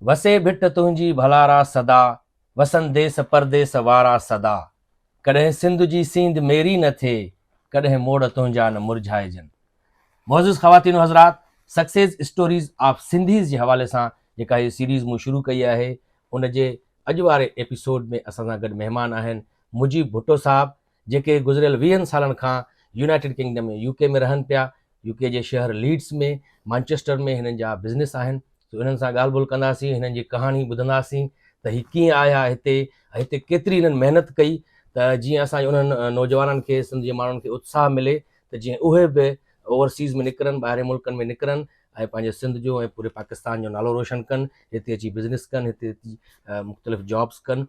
وسي ڀٽ تنهنجي ڀلارا سدا، وسن ديس پرديس وارا سدا. ڪڏهن سنڌ جي سيند ميري نه ٿئي، ڪڏهن موڙ تنهنجا نه مرجهائجن. معزز خواتين و حضرات، سڪسيز اسٽوريز آف سنڌيز جي حوالي سان جيڪا هي سيريز مون شروع ڪئي آهي، ان جي اڄ واري ايپيسوڊ ۾ اسان سان گڏ مهمان آهن مجيب ڀٽو صاحب جيڪي گذريل ويهن سالن کان يونائيٽيڊ ڪنگڊم ۽ يو ڪي ۾ رهن پيا. يو ڪي جي شهر ليڊس ۾ مانچسٽر ۾ هنن جا بزنس آهن، سو هنن سان ڳالهه ٻولهه ڪنداسين، هنن جي ڪهاڻي ٻڌنداسين ته هي ڪيئن آيا هتي ۽ هتي ڪيتري هنن محنت ڪئي ته جيئن اسان جي انهن نوجوانن کي سنڌ جي ماڻهن کي اتساهه ملي ته جيئن اهي به اوورسيز ۾ نڪرن، ٻاهرين ملڪن ۾ نڪرن ۽ پنهنجي سنڌ جو ۽ پوري پاڪستان جو نالو روشن ڪن، هتي اچي بزنس ڪن، هتي اچي مختلف جابس ڪن.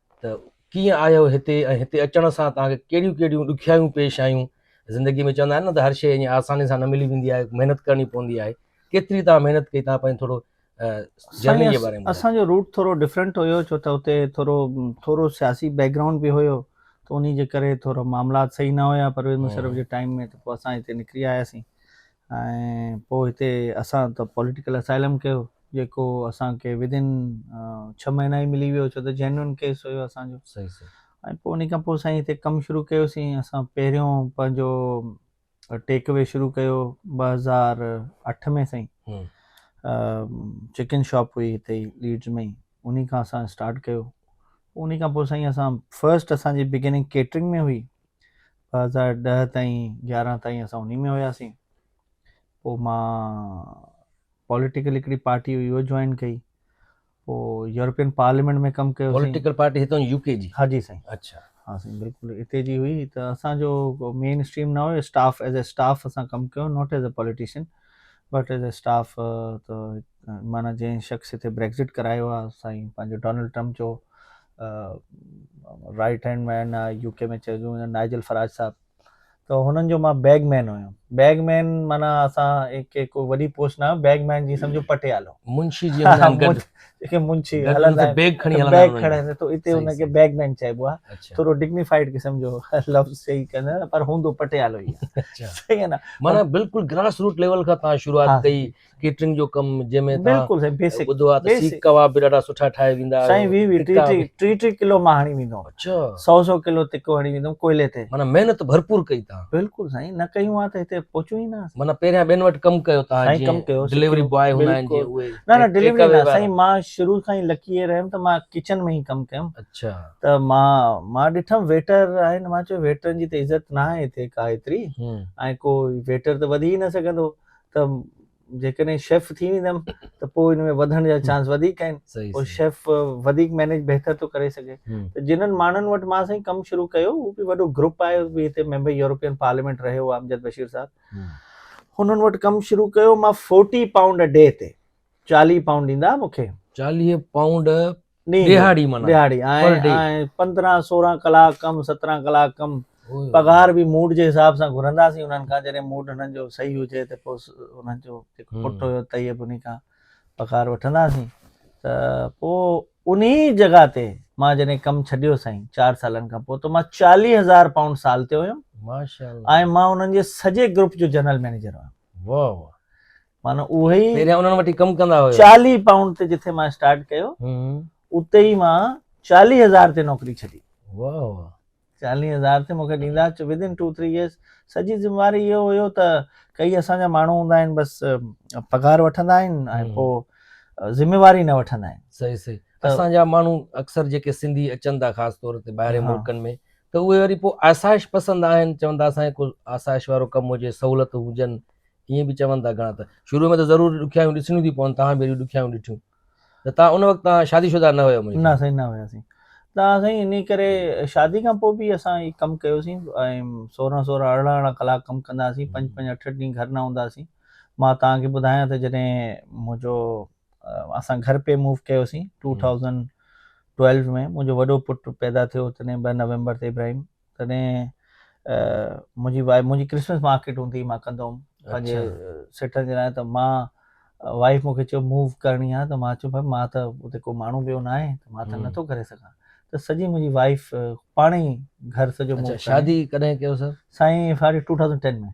ته ڪيئن آيو هتي ۽ هتي اچڻ سان توهان کي ڪهڙيون ڪهڙيون ڏکيائيون پيش آيون زندگي ۾ چوندا آهن نه ته هر شيء ائين آساني سان نه ملي ويندي آهي محنت ڪرڻي پوندي آهي ڪيتري توهان محنت ڪئي توهان پنهنجي ٿورو جرني جي باري ۾ اسان جو روٽ ٿورو ڊفرنٽ هيو ڇو ته اتي ٿورو ٿورو سياسي بيڪ گرائونڊ به هيو ته انهي جي ڪري ٿورا معاملات صحيح نه هيا پرويز مشرف جي ٽائيم ۾ ته پوء اسان هتي نڪري آياسين ۽ پوء هتي اسان ته پوليٽيڪل اسائلم ڪيو جيڪو اسان کي ودن ڇهه مهينا ئي ملي ويو ڇو ته جينون ڪيس هيو اسان جو صحيح صحيح ۽ پوء انهي کان پوء سائين هتي ڪم شروع ڪيوسين اسان پهريون پنهنجو ٽيڪ اوي شروع ڪيو ٻه هزار اٺ ۾ سائين چڪن شاپ هئي هتي ئي ليڊز ۾ ئي انهي کان اسان اسٽارٽ ڪيو انهي کان پوء سائين اسان فرسٽ اسان جي بگننگ ڪيٽرنگ ۾ هئي ٻه هزار ڏهه تائين يارهن تائين اسان انهي ۾ هياسين پوء مان پوليٽيڪل هڪڙي پارٽي هئي اهو جوائن ڪئي پوء يورپين پارليامينٽ ۾ ڪم ڪيو پوليٽيڪل پارٽي هتان يو ڪي جي ها جي سائين اڇا ها سائين بلڪل هتي جي هئي ته اسان جو مين اسٽريم نه هيو اسٽاف ايز اي اسٽاف اسان ڪم ڪيو not as a politician but as a staff ته معنيٰ جنهن شخص هتي بريگزٽ ڪرايو آهي سائين پنهنجو ڊونلڊ ٽرمپ جو right hand man U K ۾ چئجو وڃن نائجل فراج صاحب ته هنن جو مان بيگ مين هيم بيگ مين معنی اسان کي ڪو وڏي پوسٽ نه بيگ مين جي سمجھو پٽيالو منشي جي هنن گڏ کي منشي هلندا بيگ کڻي هلندا بيگ کڻي ته اتي هن کي بيگ مين چئبو آ ٿورو ڊگنيفائيڊ قسم جو لفظ صحيح ڪندا پر هوندو پٽيالو ئي آ صحيح آ نه معنی بالڪل گراس روٽ ليول کان تان شروعات ڪئي ڪيٽرنگ جو ڪم جنهن ۾ بلڪل سائين بيسڪ ٻڌو آ ته سيخ ڪباب به ڏاڍا سٺا ٺاهي ويندا آهيو سائين V V T T T T kilo مان هڻي ويندو اڇا سو سو ڪلو تکو هڻي ويندو ڪوئلي تي معنيٰ محنت ڀرپور ڪئي تان بلڪل سائين نه ڪيون آ ته هتي پهچون ئي نه معنيٰ پهريان ٻين وٽ ڪم ڪيو تان سائين ڪم ڪيو ڊليوري بوائي هوندا آهن جي اهي نه نه ڊليوري نه سائين مان شروع کان ئي لڪي اهي رهيم ته مان ڪچن ۾ ئي ڪم ڪيم اڇا ته مان مان ڏٺم ويٽر آهن مان چيو ويٽرن جي ته عزت نه آهي هتي ڪا ايتري ۽ ڪو ويٽر ته وڌي ئي نه سگهندو ته جيڪڏهن شيف ٿي ويندم ته پوء ان ۾ وڌڻ جا چانس وڌيڪ آهن پوء شيف وڌيڪ مينيج بهتر ٿو ڪري سگهي ته جنھن ماڻھن وٽ مان سائين ڪم شروع ڪيو هو به وڏو گروپ آهي هو به هتي ميمبر يورپين پارليامينٽ رهيو آهي امجد بشير صاحب هنن وٽ ڪم شروع ڪيو مان فورٽي پائونڊ اي ڊي تي چاليهه پائونڊ ڏيندا مون کي. چاليهه پائونڊ ڏيهاڙي معنيٰ ڏيهاڙي ۽ پندرهن سورهن ڪلاڪ ڪم سترهن ڪلاڪ ڪم پگهار به موڊ جي حساب سان گهرندا سين انهن کان جڏهن موڊ انهن جو صحيح هجي ته پوء انهن جو جيڪو پٽ هيو طيب انهي کان پگهار وٺندا سين ته پوء انهي جڳهه تي مان جڏهن ڪم ڇڏيو سائين چار سالن کان پوء ته مان چاليهه هزار پائونڊ سال تي هيم ۽ مان انهن جي سڄي گروپ جو جنرل مئنيجر هيم معنيٰ اهي ئي پهريان انهن وٽ ئي ڪم ڪندا هيا. چاليهه پائونڊ تي جتي مان اسٽارٽ ڪيو اتي ئي مان چاليهه هزار تي نوڪري ڇڏي. واه واه. چاليهه هزار تي مون کي ڏيندا هئا ودن ٽو ٿري يئرس سڄي ذميواري اهو هيو ته ڪيئي اسان جا ماڻهو هوندا آهن بس پگهار وٺندا آهن ۽ پوء ذميواري نه وٺندا آهن. صحيح صحيح اسان جا ماڻهو اڪثر جيڪي سنڌي اچن ٿا خاص طور تي ٻاهرين ملڪن ۾ ته اهي وري پوء آسائش پسند آهن چون ٿا اسان کي ڪو آسائش وارو ڪم هجي سهولتون هجن ائين به چون ٿا گهڻا ته شروع ۾ ته ضرور ڏکيائيون ڏسڻيون ٿي پون توهان به اهڙيون ڏکيائيون ڏٺيون ته توهان ان وقت توهان شادي شده نه هيو منهنجي نه سائين نه هياسين ته سائين انهي ڪري شادي کان پوء به اسان هي ڪم ڪيوسين ۽ سورهن سورهن ارڙهن ارڙهن ڪلاڪ ڪم ڪندا هئاسين پنج پنج اٺ اٺ ڏينهن گهر نه هوندا هئاسين مان توهان کي ٻڌايان ته جڏهن منهنجو اسان گهر پئي موو ڪيوسين ٽو ٿائوزنڊ ٽويلو ۾ منهنجو وڏو پٽ پيدا ٿيو تڏهن ٻه نومبر تي ابراهيم تڏهن منهنجي وائف منهنجي ڪرسمس مارڪيٽ هوندي مان ڪندو هوم پنهنجي سيٺن جي لاء ته مان وائف مونکي چيو موو ڪرڻي آهي ته مان چيو ڀاء مان ته اتي ڪو ماڻهو ٻيو ناهي ته مان ته نٿو ڪري سگهان ته سڄي منهنجي وائف پاڻ ئي گهر سڄو موو شادي ڪڏهن ڪيو سر سائين فاري ٽو ٿائوزنڊ ٽين ۾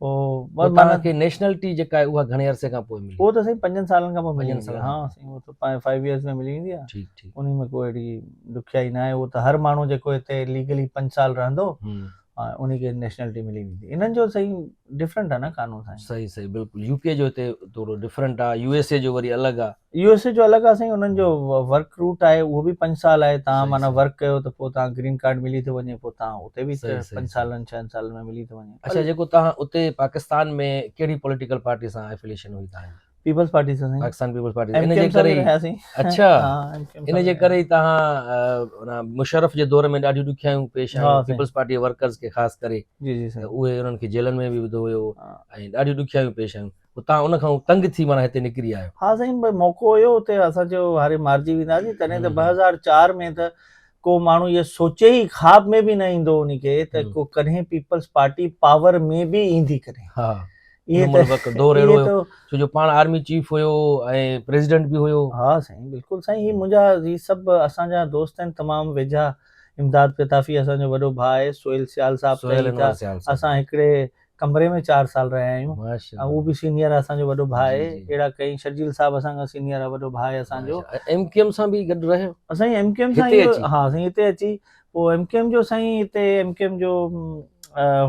مانا ڪي نيشنلٽي جيڪا آهي اها گهڻي عرصي کان پوء ملي اهو ته سائين پنجن سالن کان پوء ملي ويندي آهي ها سائين اهو ته پنج فائيو ايئرز ۾ ملي ويندي آهي انهي ۾ ڪو اهڙي ڏکيائي ناهي اهو ته هر ماڻهو جيڪو هتي ليگلي پنج سال رهندو انهي کي نيشنلٽي ملي ويندي انهن جو سائين ڊفرنٽ آهي نه قانون سائين صحيح صحيح بلڪل يو پي جو هتي ٿورو ڊفرنٽ آهي يو ايس اي جو وري الڳ آهي يو ايس اي جو الڳ آ سائين انهن جو ورڪ روٽ آهي اهو به پنج سال آهي تان معنيٰ ورڪ ڪيو ته پوء تان گرين ڪارڊ ملي ٿو وڃي پوء تان اتي به پنج سالن ڇهن سالن ۾ ملي ٿو وڃي. اڇا جيڪو تان اتي پاڪستان ۾ ڪهڙي پوليٽيڪل پارٽي سان افيليشن هئي تان جي؟ پيپلز پارٽي سان سائين. پاڪستان پيپلز پارٽي ايم ڪيم سان به رهيا سائين. اڇا ان جي ڪري ئي تان مشرف جي دور ۾ ڏاڍيون ڏکيائيون پيش آيون پيپلز پارٽي ورڪرز کي خاص ڪري اهي انهن کي جيلن ۾ به وڌو ويو ۽ ڏاڍيون ڏکيائيون پيش آيون. اتان ان کان هو تنگ ٿي معنيٰ هتي نڪري آيو. ها سائين ڀاء موقعو هيو اتي اسان چيو هاري مارجي وينداسين تڏهن ته ٻه هزار چار ۾ ته ڪو ماڻهو اهو سوچي ئي خواب ۾ به نه ايندو انهي کي ته ڪو ڪڏهن پيپلز پارٽي پاور ۾ به ايندي ڪڏهن ها ان مهل وقت دور اهڙو هيو ڇو جو پاڻ آرمي چيف هيو ۽ پريزيڊنٽ به هيو. ها سائين بلڪل سائين هي منهنجا هي سڀ اسان جا دوست آهن تمام ويجها امداد پتافي اسان جو وڏو ڀاء آهي سهيل سيال صاحب سهيل انور سيال صاحب اسان هڪڙي ڪمري ۾ چار سال رهيا آهيون ماشاءالله ۽ هو به سينيئر آهي اسان جو وڏو ڀاء جي جي اهڙا ڪئين شرجيل صاحب اسان کان سينيئر آهي وڏو ڀاء اسان جو ماشاءالله ۽ ايم ڪيو ايم سان به گڏ رهيو ها سائين ايم ڪيو ايم سان هتي اچي ها سائين هتي اچي پوء ايم ڪيو ايم جو سائين هتي ايم ڪيو ايم جو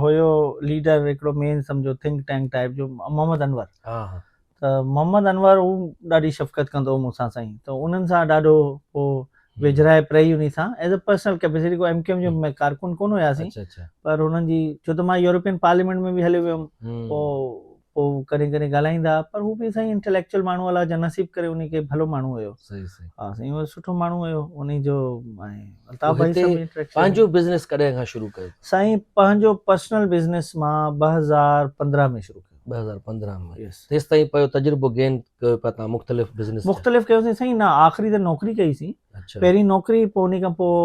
هيو ليڊر هڪڙو مين سمجهو ٿنڪ ٽينڪ ٽائيپ جو محمد انور ها ها ته محمد انور هو ڏاڍي شفقت ڪندو هو مون سان سائين ته انهن سان ڏاڍو پوء ويجهڙائپ رهي انهي سان ايز اي پرسنل ڪيپيسٽي ڪو ايم ڪيو ايم جو ۾ ڪارڪن ڪونه هياسين پر هنن جي ڇو ته مان يورپين پارليامينٽ ۾ به هليو ويم پوء پوء ڪڏهن ڪڏهن ڳالهائيندا ها پر هو به سائين انٽيليڪچوئل ماڻهو الاء جا نصيب ڪري انهي کي ڀلو ماڻهو هيو ها سائين هو سٺو ماڻهو هيو انهي جو الطاف ڀائي سان به انٽريڪشن پنهنجو بزنس ڪڏهن کان شروع ڪيو سائين پنهنجو پرسنل بزنس مان ٻه هزار پندرهن ۾ شروع ڪيو ٻه هزار پندرهن ۾ يس تيستائين پنهنجو تجربو گين ڪيو پيا تان مختلف بزنس مختلف ڪيو سين سائين نه آخري ته نوڪري ڪئي سين اچھا پهرين نوڪري پوء انهي کان پوء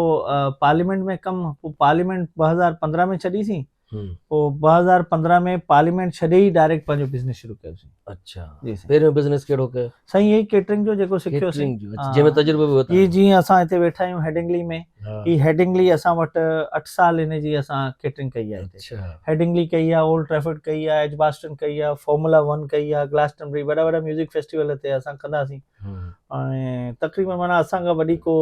پارليامينٽ ۾ ڪم پوء پارليامينٽ ٻه هزار پندرهن ۾ ڇڏي سين هم پوء ٻه هزار پندرهن ۾ پارليامينٽ ڇڏي ئي ڊائريڪٽ پنهنجو بزنس شروع ڪيو سين اچھا جي سائين پهريون بزنس ڪهڙو ڪيو سائين هي ڪيٽرنگ جو جيڪو سکيو سين جنهن ۾ تجربو به وتايو هي جيئن اسان هتي ويٺا آهيون هيڊنگلي ۾ هي هيڊنگلي اسان وٽ اٺ سال هن جي اسان ڪيٽرنگ ڪئي آهي هتي هيڊنگلي ڪئي آهي اولڊ ٽريفرڊ ڪئي آهي ايجباسٽن ڪئي آهي فارمولا ون ڪئي آهي گلاسٽنبري وڏا وڏا ميوزڪ فيسٽيول هتي اسان ڪنداسين ۽ تقريبا معنيٰ اسان کان وڏي ڪو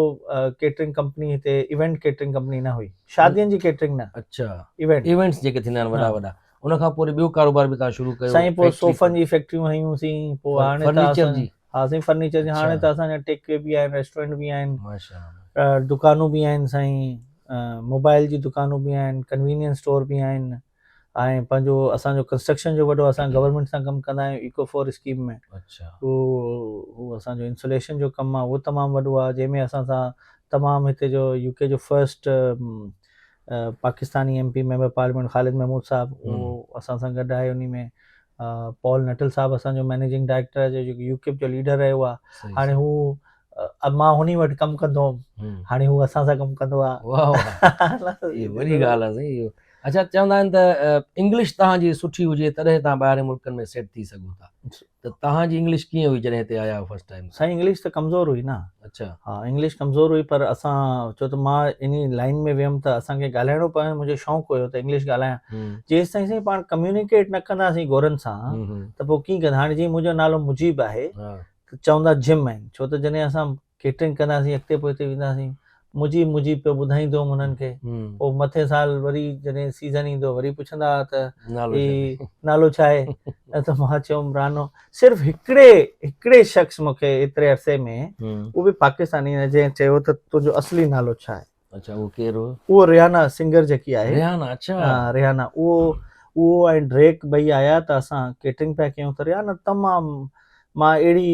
ڪيٽرنگ ڪمپني هتي ايونٽ ڪيٽرنگ ڪمپني نه هئي شادين جي ڪيٽرنگ نه اچا ايونٽ ايونٽس جيڪي ٿيندا آهن وڏا وڏا ان کان پوري ٻيو ڪاروبار به تان شروع ڪيو سائين پوء صوفن جي فيڪٽريون هيون سين پوء هاڻي فرنيچر جي ها سائين فرنيچر جي هاڻي ته اسان جا ٽيڪ وي به آهن ريسٽورنٽ به آهن ماشاءالله دڪانون به آهن سائين موبائل جي دڪانون به آهن ڪنوينينس اسٽور به آهن ۽ پنهنجو اسان جو ڪنسٽرڪشن جو وڏو اسان گورنمينٽ سان ڪم ڪندا آهيون ايڪو فور اسڪيم ۾ اچا هو اسان جو انسوليشن جو ڪم آهي هو تمام وڏو آهي جنهن ۾ اسان سان تمام هتي جو يو ڪي جو first Pakistani M P member parliament Khalid Mahmood Sahib اهو اسان سان گڏ آهي انهي ۾ پال نٽل صاحب اسان جو مينيجنگ ڊائريڪٽر آهي جيڪو يو ڪيپ جو ليڊر رهيو آهي هاڻي هو مان انهي وٽ ڪم ڪندو هوم هاڻي هو اسان سان ڪم ڪندو آهي وڏي ڳالهه آهي اهو اچا چوندا آهن ته انگلش توهان جي سٺي هجي تڏهن توهان ٻاهرين ملڪن ۾ سيٽ ٿي سگهو ٿا ته توهان جي انگلش ڪيئن هئي جڏهن هتي آيا فرسٽ ٽائيم؟ سائين انگلش ته ڪمزور هئي نه. اڇا. ها انگلش ڪمزور هئي پر اسان ڇو ته مان انهي لائين ۾ ويم ته اسان کي ڳالهائڻو پوي ۽ منهنجو شوق هيو ته انگلش ڳالهايان. جيستائين سائين پاڻ ڪميونيڪيٽ نه ڪنداسين گورن سان ته پوء ڪيئن ڪندا هاڻي جيئن منهنجو نالو مجيب آهي ته چوندا جم آهن ڇو ته جڏهن اسان ڪيٽرنگ ڪنداسين اڳتي پوئتي وينداسين منهنجي منهنجي پيو ٻڌائيندو هوم انهن کي پوء مٿين سال وري جڏهن سيزن ايندو وري پڇندا ها ته هي نالو ڇا آهي ته مان چيم رانو صرف هڪڙي هڪڙي شخص مون کي ايتري عرصي ۾ اهو به پاڪستاني جنهن چيو ته تنهنجو اصلي نالو ڇا آهي اچا اهو ڪير هو اهو ريانا سنگر جيڪي آهي ريانا اچا ها ريانا اهو اهو ۽ ڊريڪ ٻئي آيا ته اسان ڪيٽرنگ پيا ڪيون ته ريانا تمام مان اهڙي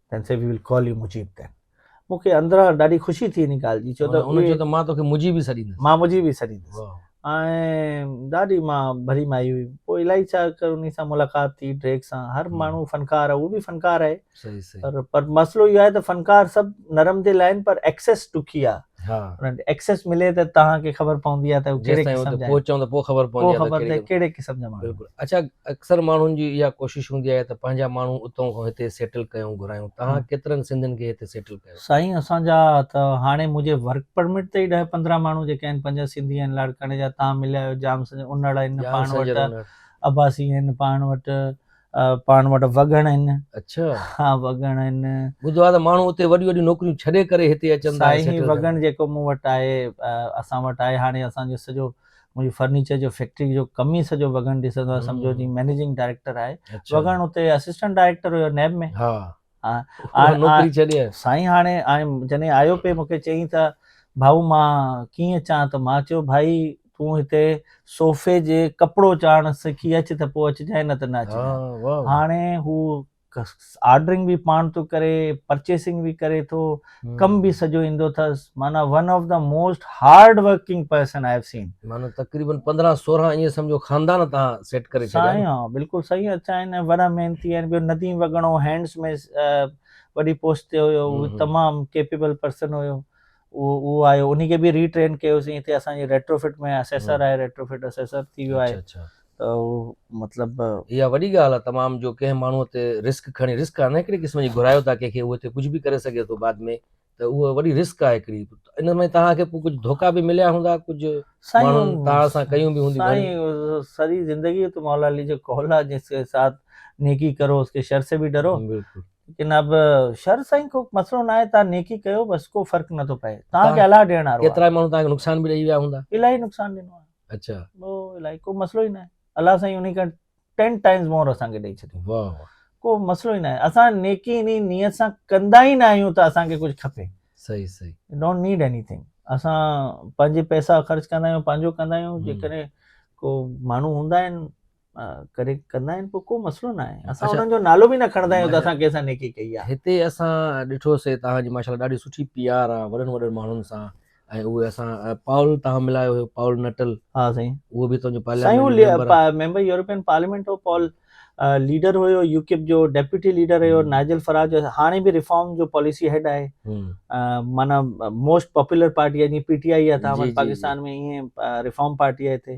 تنهن C V will call you Mujib Din مون کي اندران ڏاڍي خوشي ٿي ان ڳالهه جي ڇو ته ان جو ته مان توکي مجيب ئي سڏيندس مان مجيب ئي سڏيندس ۽ ڏاڍي مان ڀري مائي هئي پوء الائي ڇا ڪر انهي سان ملاقات ٿي ڊريڪ سان هر ماڻهو فنڪار آهي اهو به فنڪار آهي پر پر مسئلو اهو آهي ته فنڪار سڀ نرم دل آهن پر ايڪسيس ڏکي آهي انهن کي ايڪسيس ملي ته توهان کي خبر پوندي آهي ته هو ڪهڙي قسم جا پوء چون ته پوء خبر پوندي آهي ته خبر ته ڪهڙي قسم جا ماڻهو بلڪل اڇا اڪثر ماڻهن جي اها ڪوشش هوندي آهي ته پنهنجا ماڻهو اتون کان هتي سيٽل ڪيون گهرايون توهان ڪيترن سنڌين کي هتي سيٽل ڪيو سائين اسان جا ته هاڻي منهنجي ورڪ پرمٽ تي ئي ڏهه پندرهن ماڻهو جيڪي آهن پنج سنڌي آهن لاڙڪاڻي جا توهان مليا آهيو جام سنجر انڙ آهن پاڻ وٽ عباسي آهن پاڻ وٽ پاڻ وٽ وڳڻ آهن اڇا ها وڳڻ آهن ٻڌو آ ته ماڻهو اتي وڏي وڏي نوڪريون ڇڏي ڪري هتي اچن ٿا سائين هي وڳڻ جيڪو مون وٽ آهي اسان وٽ آهي هاڻي اسان جو سڄو منهنجي فرنيچر جو فيڪٽري جو ڪم ئي سڄو وڳڻ ڏسندو آهي سمجهو جي مينيجنگ ڊائريڪٽر آهي وڳڻ اتي اسسٽنٽ ڊائريڪٽر هيو نيب ۾ نوڪري ڇڏي آيو. سائين هاڻي جڏهن آيو پي مون کي چيائين ته ڀائو مان ڪيئن اچان ته مان چيو ڀائي تون هتي صوفي جي ڪپڙو چاڙهڻ سکي اچ ته پوء اچجانء نه ته نه اچجانء. هاڻي هو آرڊرنگ به پاڻ ٿو ڪري پرچيسنگ به ڪري ٿو. ڪم به سڄو ايندو ٿس معنيٰ one of the most hard working person I هيو سين. معنيٰ تقريبن پندرهن سورهن ائين سمجهو خاندان تهان سيٽ ڪري ڇڏيا آهن. سائين ها بلڪل صحيح اچا آهن ۽ وڏا محنتي آهن ٻيو نديم وڳڻو هينڊس ۾ وڏي پوسٽ تي هيو هو به تمام ڪيپيبل پرسن هيو اهو اهو آيو انهي کي به ري ٽرين ڪيوسين هتي اسان جي ريٽرو فٽ ۾ اسيسر آهي ريٽرو فٽ اسيسر ٿي ويو آهي اهو مطلب. اها وڏي ڳالهه آهي تمام جو ڪنهن ماڻهو تي رسڪ کڻي رسڪ آهي نه هڪڙي قسم جي گهرايو ٿا ڪنهن کي اهو هتي ڪجهه به ڪري سگهي ٿو بعد ۾ ته اهو وڏي رسڪ آهي هڪڙي ان ۾ توهان کي پوء ڪجهه ڌوڪا به مليا هوندا ڪجهه ماڻهن توهان سان ڪيون به هونديون سائين ساري زندگي تو مولا علي جو قول آهي جس کي ساٿ نيڪي ڪرو اس کي شر سي به ڊرو ليڪن اب شر سائين ڪو مسئلو نه آهي توهان نيڪي ڪيو بس ڪو فرق نه ٿو پئي توهان کي الله ڏيڻ وارو آهي ڪيترا ماڻهو توهان کي نقصان به ڏئي ويا هوندا الاهي نقصان ڏنو آهي اچھا ٻيو الائي ڪو مسئلو ئي ناهي الله سائين انهي کان ٽين ٽائمز مور اسان کي ڏئي ڇڏيو واه واه ڪو مسئلو ئي ناهي اسان نيڪي انهي نيت سان ڪندا ئي ناهيون ته اسان کي ڪجهه کپي صحيح صحيح ڊونٽ نيڊ اني ٿنگ اسان پنهنجي پئسا خرچ ڪندا آهيون پنهنجو ڪندا آهيون جيڪڏهن ڪو ماڻهو هوندا آهن ڪري ڪندا آهن پوء ڪو مسئلو ناهي اسان انهن جو نالو به نه کڻندا آهيون ته اسان ڪنهن سان نيڪي ڪئي آهي هتي اسان ڏٺو سي توهان جي ماشاءالله ڏاڍي سٺي پي آر آهي وڏن وڏن ماڻهن سان ۽ اهي اسان پائول توهان ملايو هيو پائول نٽل ها سائين اهو به تنهنجو پارليامينٽ ميمبر يورپين پارليامينٽ هو پائول ليڊر هيو يوڪپ جو ڊيپيوٽي ليڊر هيو نائجل فراز جو هاڻي به ريفارم جو پاليسي هيڊ آهي معنی موسٽ پاپولر پارٽي جي پي ٽي آئي آهي پاڪستان ۾ هي ريفارم پارٽي آهي هتي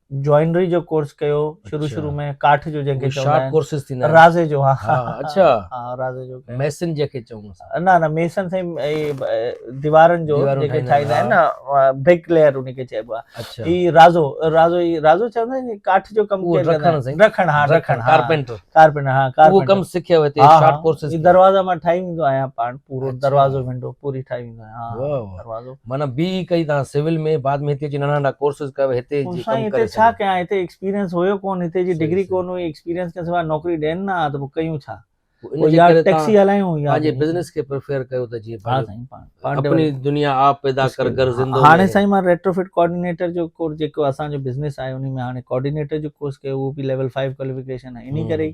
جوائنري جو ڪورس ڪيو شروع شروع ۾ ڪاٺ جو جنهن کي چوندا آهن ڪورسز ٿيندا آهن رازي جو ها ها اڇا ها رازي جو ميسن جنهن کي چون نه نه ميسن سائين ديوارن جو جيڪي ٺاهيندا آهن نه برڪ ليئر ان کي چئبو آهي هي رازو رازو هي رازو چوندا آهن ڪاٺ جو ڪم ڪيئن ڪندا آهن رکڻ ها رکڻ ڪارپينٽر ڪارپينٽر ها ڪارپينٽر اهو ڪم سکيو هتي شارٽ ڪورسز دروازا مان ٺاهي ويندو آهيان پاڻ پورو دروازو ونڊو پوري ٺاهي معنيٰ بي اي ڪئي تان سول ۾ بعد ۾ هتي اچي ننڍا ننڍا ڪورسز ڪيا هتي جي ڪم ڪري ڇا ڪيان هتي ايڪسپيرينس هيو ڪون هتي جي ڊگري ڪون هئي ايڪسپيرينس کان سواء نوڪري ڏين نه ها ته پوء ڪيون ڇا يا ٽيڪسي هلايون يا پنهنجي بزنس کي پريفيئر ڪيو ته جي ها سائين پاڻ اپني دنيا آپ پيدا ڪر گهر زندو رهي هاڻي سائين مان ريٽروفٽ ڪوآرڊينيٽر جو ڪورس جيڪو اسان جو بزنس آهي انهي ۾ هاڻي ڪوآرڊينيٽر جو ڪورس ڪيو هو به ليول 5 ڪواليفڪيشن آهي انهي ڪري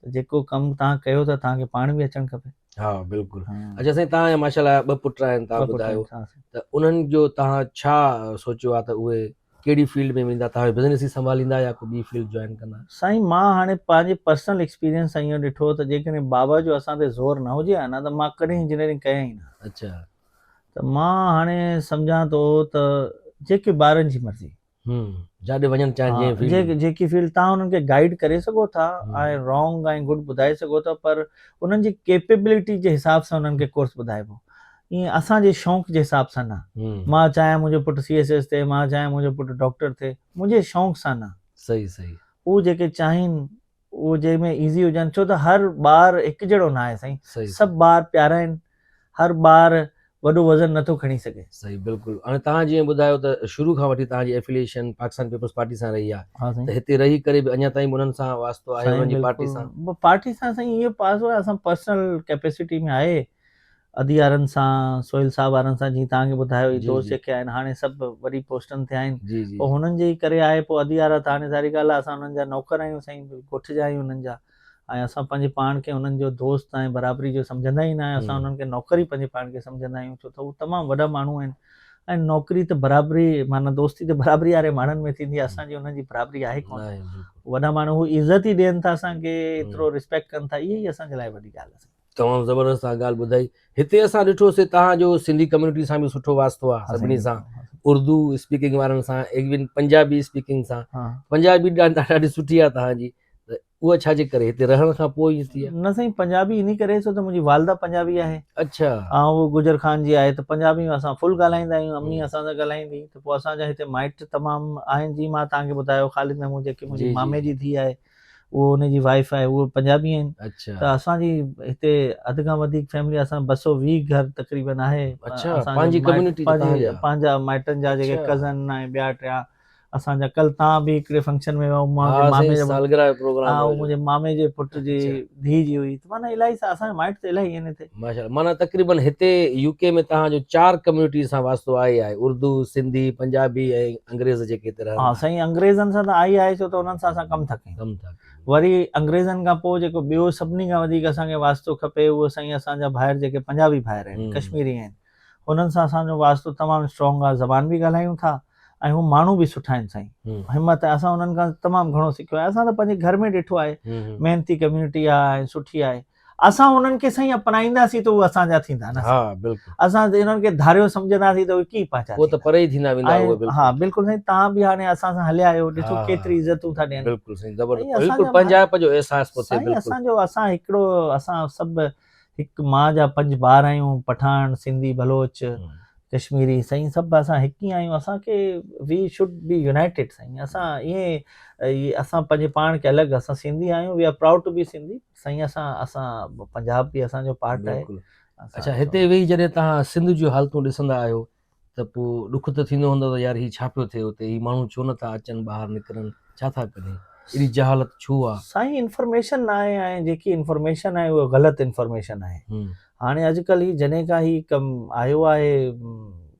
ته جيڪو ڪم توهان ڪيو ٿا توهان کي پاڻ به اچڻ کپي. ها بلڪل اچا سائين توهان جا ماشاءالله ٻه پٽ آهن توهان ٻڌايو ته انهن جو توهان ڇا سوچيو آهي ته اهي ڪهڙي فيلڊ ۾ ويندا توهان جو بزنس ئي سنڀاليندا يا ڪو ٻي فيلڊ جوائن ڪندا؟ سائين مان هاڻي پنهنجي پرسنل ايڪسپيرينس سان اهو ڏٺو ته جيڪڏهن بابا جو اسان تي زور نه هجي ها نه ته مان ڪڏهن انجنيئرنگ ڪيان ئي نه ها ته مان هاڻي سمجهان ٿو ته جيڪي ٻارن جي مرضي جاڏي وڃڻ چاهن جنهن فيلڊ ۾ جيڪي فيلڊ تهان انهن کي گائيڊ ڪري سگهو ٿا ۽ رانگ ۽ گڊ ٻڌائي سگهو ٿا پر انهن جي ڪيپيبلٽي جي حساب سان انهن کي ڪورس ٻڌائبو ائين اسان جي شونق جي حساب سان نه مان چاهيان منهنجو پٽ سي ايس ايس ٿئي مان چاهيان منهنجو پٽ ڊاڪٽر ٿئي منهنجي شونق سان نه صحيح صحيح هو جيڪي چاهين اهو جي ۾ ايزي هجن ڇو ته هر ٻار هڪ جهڙو ناهي سائين سڀ ٻار پيارا آهن هر ٻار وڏو وزن نٿو کڻي سگهي صحيح بلڪل هاڻي توهان جيئن ٻڌايو ته شروع کان وٺي توهان جي افيليشن پاڪستان پيپلز پارٽي سان رهي آهي ته هتي رهي ڪري به اڃا تائين به انهن سان واسطو آهي انهن جي پارٽي سان پارٽي سان سائين اهو پاسو آهي اسان پرسنل ڪيپيسٽي ۾ آهي ادي وارن سان سهيل صاحب وارن سان جيئن توهان کي ٻڌايو هي دوست جيڪي آهن هاڻي سڀ وڏي پوسٽن تي آهن پوء هنن جي ئي ڪري آهي پوء ادي وارا ته هاڻي ظاهري ڳالهه آهي اسان هنن جا نوڪر آهيون سائين ڳوٺ جا آهيون هنن جا ۽ اسان پنهنجي پاڻ کي هنن جو دوست ۽ برابري جو سمجهندا ئي نه آهيون اسان هنن کي نوڪر ئي پنهنجي پاڻ کي سمجهندا آهيون ڇو ته هو تمام وڏا ماڻهو آهن ۽ نوڪري ته برابري معنيٰ دوستي ته برابري واري ماڻهن ۾ ٿيندي آهي اسان جي هنن جي برابري آهي ڪونه وڏا ماڻهو هو عزت ئي ڏين ٿا اسان کي ايترو رسپيڪٽ ڪن ٿا اهي ئي اسان جي لاء وڏي ڳالهه آهي سائين تمام زبردست آ ڳالھ ٻڌائي هتي اسان ڏٺو سي تهان جو سنڌي ڪميونٽي سان به سٺو واسطو آ سڀني سان اردو اسپيڪنگ وارن سان ايون پنجابي اسپيڪنگ سان پنجابي ڏاڍي سٺي آ تهان جي اها ڇا جي ڪري هتي رهڻ کان پوء ائين ٿي نه سائين پنجابي اني ڪري ڇو ته منهنجي والده پنجابي آهي اڇا ها هو گجر خان جي آهي ته پنجابي ۾ اسان فل ڳالهائيندا آهيون امي اسان سان ڳالهائيندي ته پوء اسان جا هتي مائٽ تمام آهن جي مان تهان کي ٻڌايو خالد محمود جيڪي منهنجي مامي جي ڌي آهي اهو ان جي وائيف آهي اهو پنجابي آهن ته اسان جي هتي اڌ کان وڌيڪ فيملي اسان ٻه سؤ ويهه گهر تقريبن آهي پنهنجا مائٽن جا جيڪي ڪزن ۽ ٻيا ٽيا اسان جا ڪل تان به هڪڙي فنڪشن ۾ مامي جي پٽ جي ڌي جي هئي معنيٰ الائي اسان جا مائٽ ته الائي آهن هتي ماشاء الله معنيٰ تقريبن هتي يو ڪي ۾ توهان جو چار ڪميونٽيز سان واسطو آهي آهي اردو سنڌي پنجابي ۽ انگريز جيڪي هتي رهن ها سائين انگريزن سان ته آهي آهي ڇو ته انهن سان اسان ڪم ٿا ڪيون وري انگريزن کان پوء جيڪو ٻيو سڀني کان وڌيڪ اسان کي واسطو کپي اهو سائين اسان جا ڀائر جيڪي پنجابي ڀائر آهن ڪشميري آهن انهن سان اسان جو واسطو تمام اسٽرانگ آهي زبان به ڳالهايون ٿا ۽ هو ماڻهو به سٺا آهن سائين همت آهي اسان انهن کان تمام گهڻو سکيو آهي اسان ته پنهنجي گهر ۾ ڏٺو آهي محنتي ڪميونٽي آهي ۽ سٺي آهي اسان انهن کي سائين اپنائينداسين ته اهي اسان جا ٿيندا نه ها بلڪل اسان ته انهن کي ڌاريو سمجهنداسين ته اهي ڪيئن پنهنجا ٿيندا اهي ته پري ئي ٿيندا ويندا اهي بلڪل ها بلڪل سائين توهان به هاڻي اسان سان هليا آهيو ڏٺو ڪيتري عزتون ٿا ڏين بلڪل سائين زبردست بلڪل پنهنجائپ جو احساس ٿو ٿئي بلڪل اسان جو اسان هڪڙو اسان سڀ هڪ ماء جا پنج ٻار آهيون پٺاڻ سنڌي بلوچ ڪشميري سائين سڀ اسان هڪ ئي آهيون اسان کي وي شوڊ بي يونائيٽيڊ سائين اسان ائين اسان پنهنجي پاڻ کي الڳ اسان سنڌي آهيون we are proud to be Sindhi سائين اسان اسان پنجاب به اسان جو پارٽ آهي بلڪل اچا هتي ويهي جڏهن توهان سنڌ جون حالتون ڏسندا آهيو ته پو ڏک ته ٿيندو هوندو ته يار هي ڇا پيو ٿئي هتي هي ماڻهو ڇو نٿا اچن ٻاهر نڪرن ڇا ٿا ڪن هي اهڙي جهالت ڇو آ. سائين انفرميشن نه آهي ۽ جيڪي انفرميشن آهي اهي غلط انفرميشن آهي هاڻي اڄ ڪلهه هي جڏهن کان هي ڪم آيو آهي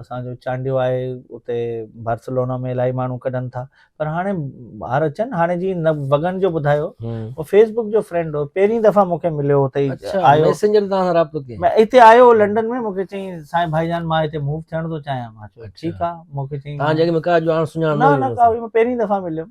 اسان جو چانڊيو آهي اتي بارسلونا ۾ الاهي ماڻهو ڪڍن ٿا پر هاڻي ٻاهر اچن هاڻي جي وڳن جو ٻڌايو هو فيس بڪ جو فرينڊ هو پهرين دفعه مون کي مليو اتي آيو ميسنجر تان رابطو ڪيو ۾ اتي آيو لنڊن ۾ مون کي چئي سائين ڀائي جان مان اتي موو ٿيڻ ٿو چاهيان مان چيو ٺيڪ آ مون کي چئي تان جيڪي مڪا جو هاڻ سڃاڻ نه نه ڪا هو پهرين دفعه مليم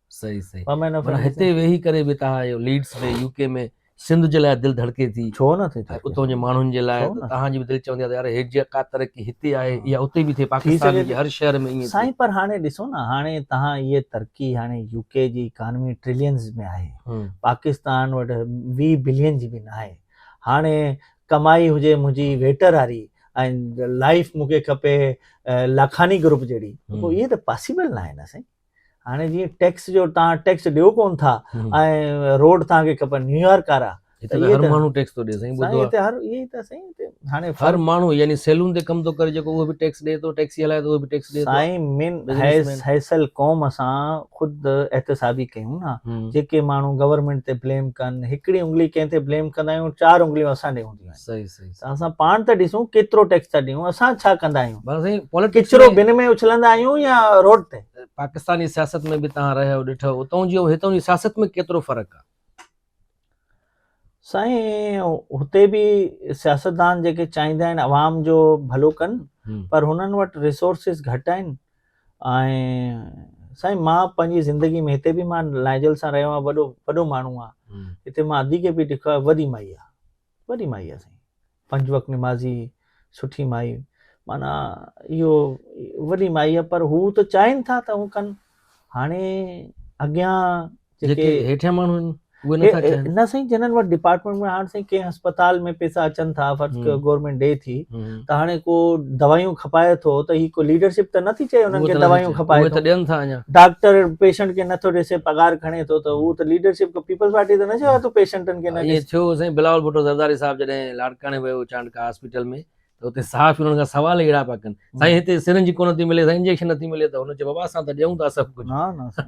صحيح صحيح ٻه مهينا معنيٰ فريندس هتي ويهي ڪري به توهان اهو ليڊس ۾ يو ڪي ۾ سنڌ جي لاء دل ڌڙڪي ٿي ڇو نه ٿي ٿي اتون جي ماڻهن جي لاء ڇو ته نه؟ توهان جي به دل چوندي آهي ته يار هيء جيئن ڪا ترقي هتي آهي ها. اها اتي به ٿئي پاڪستان سگهي جي ٿي. هر شهر ۾ ائين ٿئي سائين پر هاڻي ڏسو نه هاڻي تهان اهي ترقي هاڻي يو ڪي جي اڪانومي ٽرلينز ۾ آهي هم. پاڪستان وٽ ويهه بلين جي به ناهي هاڻي ڪمائي هجي منهنجي ويٽر واري ۽ لائف مون کي کپي لاکاني گروپ جهڙي ته پوء اهي ته پاسيبل ناهي نه سائين هاڻي جيئن ٽيڪس جو تان ٽيڪس ڏيو ڪون ٿا ۽ روڊ تان کي کپن نيويارڪ وارا هر ماڻهو ٽيڪس ٿو ڏي سائين ٻڌو هتي هر اهي ته سائين هتي هاڻي هر ماڻهو يعني سيلون تي ڪم ٿو ڪري جيڪو اهو به ٽيڪس ڏي ٿو ٽيڪسي هلائي ٿو اهو به ٽيڪس ڏي ٿو سائين من هيس هيسل قوم اسان خود احتسابي ڪيون ها جيڪي ماڻهو گورنمنٽ تي بليم ڪن هڪڙي انگلي ڪنهن تي بليم ڪندا آهيون چار انگليون اسان ڏي هونديون آهن صحيح صحيح ته اسان پاڻ ته ڏسون ڪيترو ٽيڪس ٿا ڏيون اسان ڇا ڪندا آهيون بس سائين پوليٽڪس ڪچرو بن ۾ اڇلندا آهيون يا روڊ تي پاڪستاني سياست ۾ به تان رهيو ڏٺو اتون جي هتون جي سياست ۾ ڪيترو فرق آ سائين هتي به سياستدان جيڪي چاهيندا آهن عوام جو ڀلو ڪن پر هنن وٽ ريسورسز گهٽ آهن ۽ سائين مان پنهنجي زندگي ۾ هتي به مان نائجل سان رهيو آهيان وڏو وڏو ماڻهو آهي هتي مان ادي کي به ڏيکو آهي وڏي مائي آهي وڏي مائي آ سائين پنج وقت نمازي سٺي مائي معنيٰ اهو وڏي مائي آ پر هو ته چاهين ٿا ته هو ڪن هاڻي اڳيان جيڪي هيٺيان ماڻهو آهن اهي نٿا چاهين نه سائين جنن وٽ ڊپارٽمنٽ ۾ هاڻ سائين ڪنهن اسپتال ۾ پيسا اچن ٿا فرض ڪيو گورنمنٽ ڏي ٿي ته هاڻي ڪو دوائيون کپائي ٿو ته هي ڪو ليڊرشپ ته نه ٿي چئي انهن کي دوائيون کپائي ٿو ڊاڪٽر پيشنٽ کي نه ٿو ڏسي سي پگهار کڻي ٿو ته هو ته ليڊرشپ ته پيپلز پارٽي ته نه چيو آهي ته پيشنٽن کي نه ڏسي. ائين ٿيو سائين بلاول ڀٽو زرداري صاحب جڏهن لاڙڪاڻي ويو چانڊڪا هاسپيٽل ۾ ته اتي صحافي انهن کان سوال ئي اهڙا پيا ڪن سائين هتي سرنج ڪونه ٿي ملي سائين انجيڪشن نه ٿي ملي ته هن چيو بابا اسان ته ڏيون ٿا سڀ ڪجهه.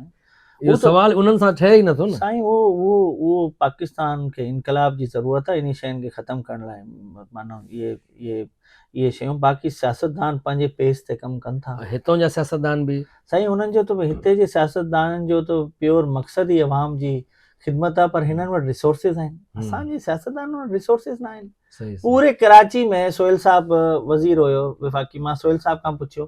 اهو سوال انهن سان ٺهي ئي نٿو نه. سائين اهو اهو پاڪستان کي انقلاب جي ضرورت آهي انهي شين کي ختم ڪرڻ لاء معنيٰ اهي اهي اهي شيون باقي سياستدان پنهنجي پيس تي ڪم ڪن ٿا. هتون جا سياستدان به. سائين انهن جو ته هتي جي سياستدانن جو ته پيور مقصد ئي عوام جي خدمت آهي پر هنن وٽ ريسورسز آهن اسان جي سياستدانن وٽ ريسورسز نه آهن. پوري ڪراچي ۾ سهيل صاحب وزير هيو وفاقي مان سهيل صاحب کان پڇيو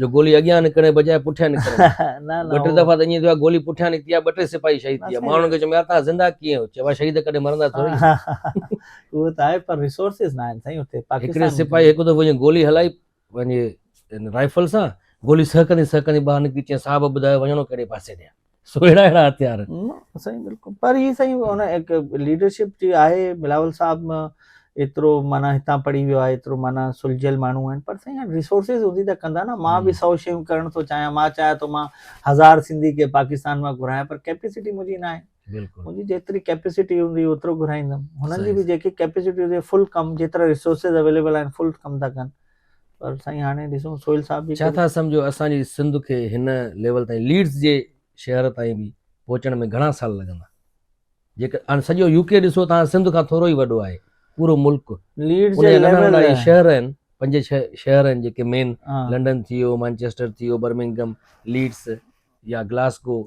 جو گولي اڳيان نڪرڻ جي بجاء پٺيان نڪرڻ لڳي. ٻه ٽي دفعا ته ائين ٿيو آهي گولي پٺيان نڪتي آهي، ٻه ٽي سپاهي شهيد ٿي ويا. ماڻهن کي چيم يار توهان زنده ڪيئن آهيو؟ چيو آهي شهيد ڪڏهن مرندا ٿوري آهن. اهو ته آهي پر ريسورسز ناهن سائين اتي پاڪستان ۾. هڪڙي سپاهي هڪ دفعو ائين گولي هلائي پنهنجي رائفل سان، گولي سهڪندي سهڪندي ٻاهر نڪتي چيائين صاحب ٻڌايو وڃڻو ڪهڙي پاسي ڏيان؟ سهيڙا اهڙا هٿيار سائين بلڪل پر هي سائين هن هڪ ليڊرشپ جي آهي بلاول صاحب ايترو معنی هتان پڙهي ويو آهي ايترو معنی سلجھيل ماڻهو آهن پر سائين ريسورسز هوندي ته ڪندا نه مان به سو شيون ڪرڻ ٿو چاهيان مان چاهيان ٿو مان هزار سنڌي کي پاڪستان مان گھرايان پر ڪيپيسٽي منهنجي نه آهي منهنجي جيتري ڪيپيسٽي هوندي اوترو گھرائيندم هنن جي به جيڪي ڪيپيسٽي هوندي فل ڪم جيترا ريسورسز اويليبل آهن فل ڪم ٿا ڪن پر سائين هاڻي ڏسون سهيل صاحب جي ڇا ٿا سمجهو اسان جي سنڌ کي هن ليول تائين ليڊز جي شهر تائين به پهچڻ ۾ گهڻا سال لڳندا جيڪر هاڻي سڄو يو ڪي ڏسو تان سنڌ کان ٿورو ئي وڏو آهي پورو ملڪ ليڊز جي ليول تائين شهر آهن پنج ڇهه شهر آهن جيڪي مين لنڊن ٿي ويو مانچيسٽر ٿي ويو برمنگم ليڊز يا گلاسگو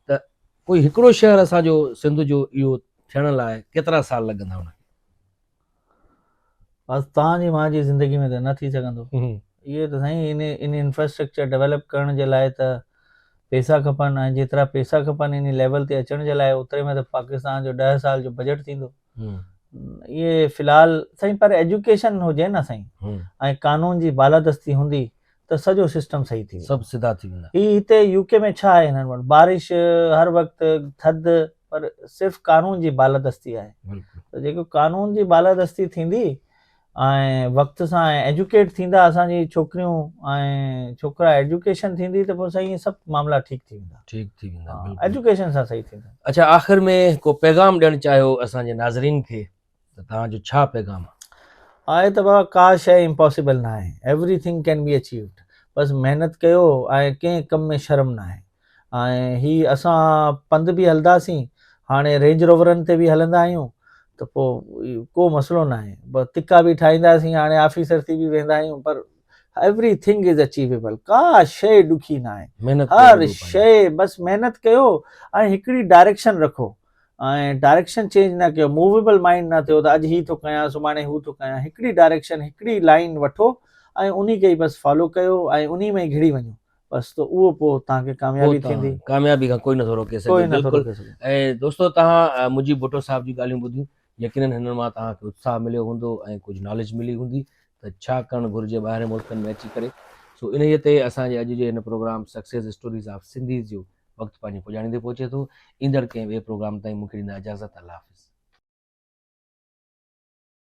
ته ڪوئي هڪڙو شهر اسان جو سنڌ جو اهو ٿيڻ لاء ڪيترا سال لڳندا هن کي بس تان جي مان جي زندگي ۾ ته نه ٿي سگهندو اهي ته سائين ان ان انفراسٽرڪچر ڊيولپ ڪرڻ جي لاء ته پيسا کپن ۽ جيترا پيسا کپن ان ليول تي اچڻ جي لاء اوتري ۾ ته پاڪستان جو ڏهه سال جو بجيٽ ٿيندو اهي في الحال سائين پر ايجوڪيشن هجي نه سائين ۽ قانون جي بالادستي هوندي ته سڄو سسٽم صحيح ٿي ويندو. سڀ سڌا ٿي ويندا. هي هتي يوڪي ۾ ڇا آهي هنن وٽ بارش هر وقت ٿڌ پر صرف قانون جي بالادستي آهي ته جيڪو قانون جي بالادستي ٿيندي ۽ وقت سان ۽ ايجوڪيٽ ٿيندا اسان جي ڇوڪريون ۽ ڇوڪرا ايجوڪيشن ٿيندي ته پوء سائين هي سڀ معاملا ٺيڪ ٿي ويندا. ٺيڪ ٿي ويندا بلڪل. ايجوڪيشن سان صحيح ٿيندا. اڇا آخر ۾ ڪو پيغام ڏيڻ چاهيو اسان جي ناظرين کي. ته توهان جو ڇا پيغام آ؟ آهي ته بابا ڪا شيء امپاسيبل ناهي ايوري ٿنگ ڪين بي اچيوڊ بس محنت ڪيو ۽ ڪنهن ڪم ۾ شرم ناهي ۽ هي اسان پنڌ به هلنداسين هاڻي رينج روورن تي به هلندا آهيون ته پو ڪو مسئلو ناهي تڪا به ٺاهينداسين هاڻي آفيسر ٿي به ويندا آهيون پر ايوري ٿنگ از اچيويبل ڪا شيء ڏکي ناهي هر شيء بس محنت ڪيو ۽ هڪڙي ڊائريڪشن رکو ۽ ڊائريڪشن چينج نه ڪيو، موويبل مائينڊ نه ٿيو ته اڄ هي ٿو ڪيان سڀاڻي هو ٿو ڪيان، هڪڙي ڊائريڪشن هڪڙي لائين وٺو ۽ انهي کي ئي بس فالو ڪيو ۽ انهي ۾ ئي گهڙي وڃو بس ته اهو پوء توهان کي ڪاميابي ٿيندي. ڪاميابي کان ڪوئي نٿو روڪي سگهي. ڪوئي نٿو روڪي سگهي. ۽ دوستو تهان منهنجي ڀٽو صاحب جون ڳالهيون ٻڌيون. يقينن هنن مان توهان کي اتساهه مليو هوندو ۽ ڪجهه ناليج ملي هوندي ته ڇا ڪرڻ گهرجي ٻاهرين ملڪن ۾ اچي ڪري سو انهيء تي اسان جي اڄ جي هن program success stories of Sindhis جو وقت پنهنجي پڄاڻيندي پهچي ٿو ايندڙ ڪنهن ٻئي پروگرام تائين مون کي ڏيندا اجازت الله حافظ.